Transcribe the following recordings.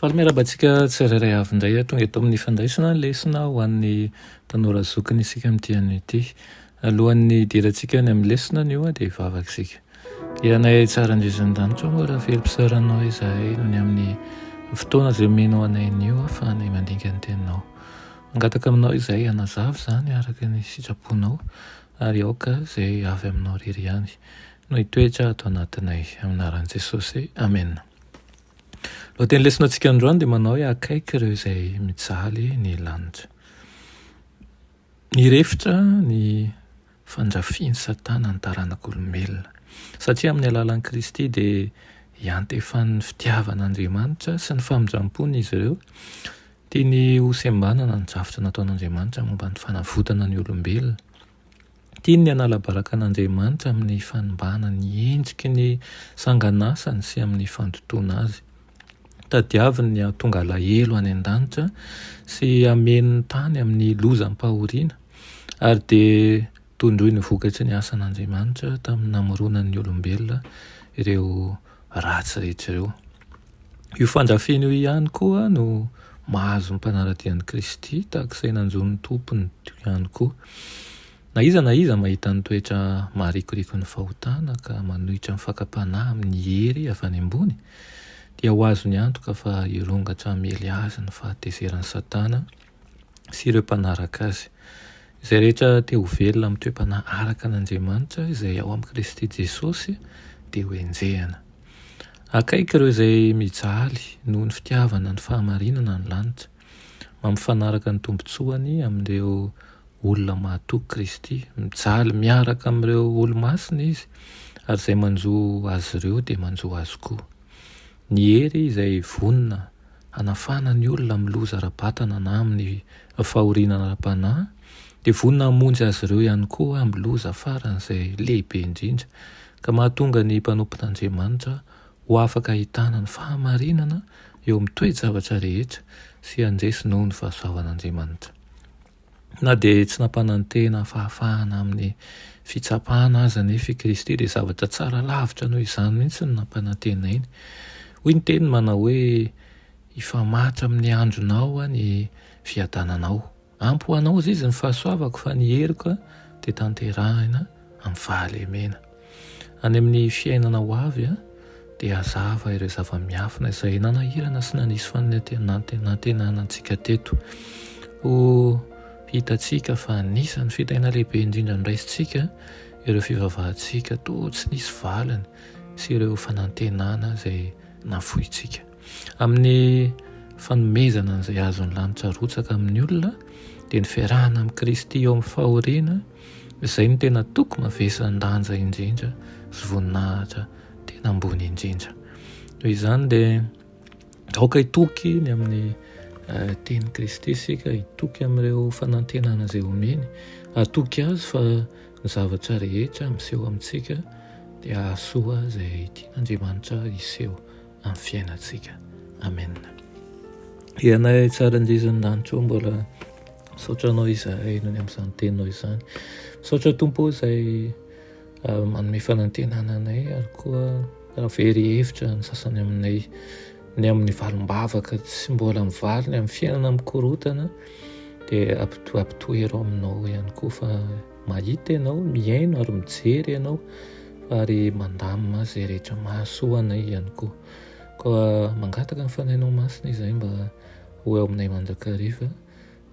Faly miarahaba antsika tsirairay avy indray ah, tonga eto amin'ny fandraisana ny lesona ho an'ny tanora zokiny isika amin'ny diany ity. Alohan'ny hidirantsika any amin'ny lesona anio ah, dia hivavaka isika. Ianay tsara indrindra an-danitra oh, raha velom-pisaoranao izahay noho ny amin'ny fotoana izay omenao anay anio ahafahana mandinika ny teninao. Mangataka aminao izahay hanazava izany araka ny sitraponao ary aoka izay avy aminao irery ihany no hitoetra ato anatinay. Amin'ny anaran'i Jesosy, amena. Lohateny lesonatsika androany dia manao hoe akaiky ireo izay mijaly ny lanitra. Nirefitra ny fandrafian'i Satana ny taranak'olombelona, satria amin'ny alalan'i Kristy dia iantefan'ny fitiavan'Andriamanitra sy ny famindram-pony izy ireo, tiany hosembanana ny drafitra nataon'Andriamanitra momba ny fanavotana ny olombelona. Tiany ny hanala baraka an'Andriamanitra amin'ny fanimbàna ny endriky ny sanganasany sy amin'ny fandotoana azy. Tadiaviny ny hahatonga alahelo any an-danitra sy hameno ny tany amin'ny lozam-pahoriana, ary dia tondroiny vokatry ny asan'Andriamanitra tamin'ny namoronany ny olombelona ireo ratsy rehetra ireo. Io fandrafiana io ihany koa no mahazo ny mpanaradia an'i Kristy tahaka izay nanjo ny Tompony ihany koa. Na iza na iza mahita ny toetra maharikoriko ny fahotana ka manohitra ny fakam-panahy amin'ny hery avy any ambony dia ho azony antoka fa hirongatra hamely azy ny fahatezeran'i Satana sy ireo mpanaraka Azy. Izay rehetra te ho velona amin'ny toe-panahy araka an' Andriamanitra izay ao amin'i Kristy Jesosy dia ho enjehina. Akaiky ireo izay mijaly noho ny fitiavana ny fahamarinana ny lanitra, mampifanaraka ny tombontsoany amin'ireo olona mahatoky Kristy. Mijaly miaraka amin'ireo olo-masina Izy, ary izay manjo Azy ireo dia manjo Azy koa. Ny hery izay vonona hanafana ny olona amin'ny loza ara-batana na amin'ny fahoriana ara-panahy, dia vonona hamonjy azy ireo ihany koa amin'ny loza faran'izay lehibe indrindra, ka mahatonga ny mpanompon'Andriamanitra ho afaka hahitana ny fahamarinana eo amin'ny toe-javatra rehetra sy handresy noho ny fahasoavan'Andriamanitra. Na dia tsy nampanantena fahafahana amin'ny fitsapana aza anefa i Kristy, dia zavatra tsara lavitra noho izany mihitsy no nampanantenainy. Hoy ny teniny manao hoe, Hifamatra amin'ny andronao ny fiadananao. Ampy ho anao, hoy izy, ny fahasoavako, fa ny heriko dia tanterahina amin'ny fahalemena. Any amin'ny fiainana ho avy dia hazava ireo zava-miafina izay nanahirana sy nanisy fanantenana antsika teto. Ho hitantsika fa anisan'ny fitahiana lehibe indrindra noraisintsika ireo fivavahantsika toa tsy nisy valiny sy ireo fanantenana izay nafointsika. Amin'ny fanomezana an'izay azon'ny lanitra arotsaka amin'ny olona dia ny fiarahana amin'i Kristy eo amin'ny fahoriana izay no tena toko mavesan-danja indrindra sy voninahitra tena ambony indrindra. Noho izany dia aoka hitoky ny amin'ny eh, teny Kristy isika, hitoky amin'ireo fanantenana izay omeny, atoky azy fa ny zavatra rehetra miseho amintsika dia ahasoa izay tian'Andriamanitra hiseho. amin'ny fiainantsika. Amen. Ianay tsara indizon'ny lanitra ao mbola misaotra anao izahay nony amin'izany teninao izany. Misaotra tompo izay ah, manome fanantenana anay ary koa raha very hevitra ny sasany aminay ny amin'ny valim-bavaka tsy mbola mivaly ny amin'ny fiainana mikorotana dia ampitoatoherao aminao ihany koa fa Mahita ianao, mihaino ary mijery ianao ary mandamina izay rehetra mahasoa anay ihany koa. Koa mangataka ny Fanahinao Masina izahay mba ho eo aminay mandrakariva,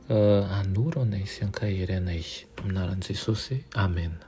ka hanoro anay sy hankahery anay. Amin'ny anaran'i Jesosy, Amena.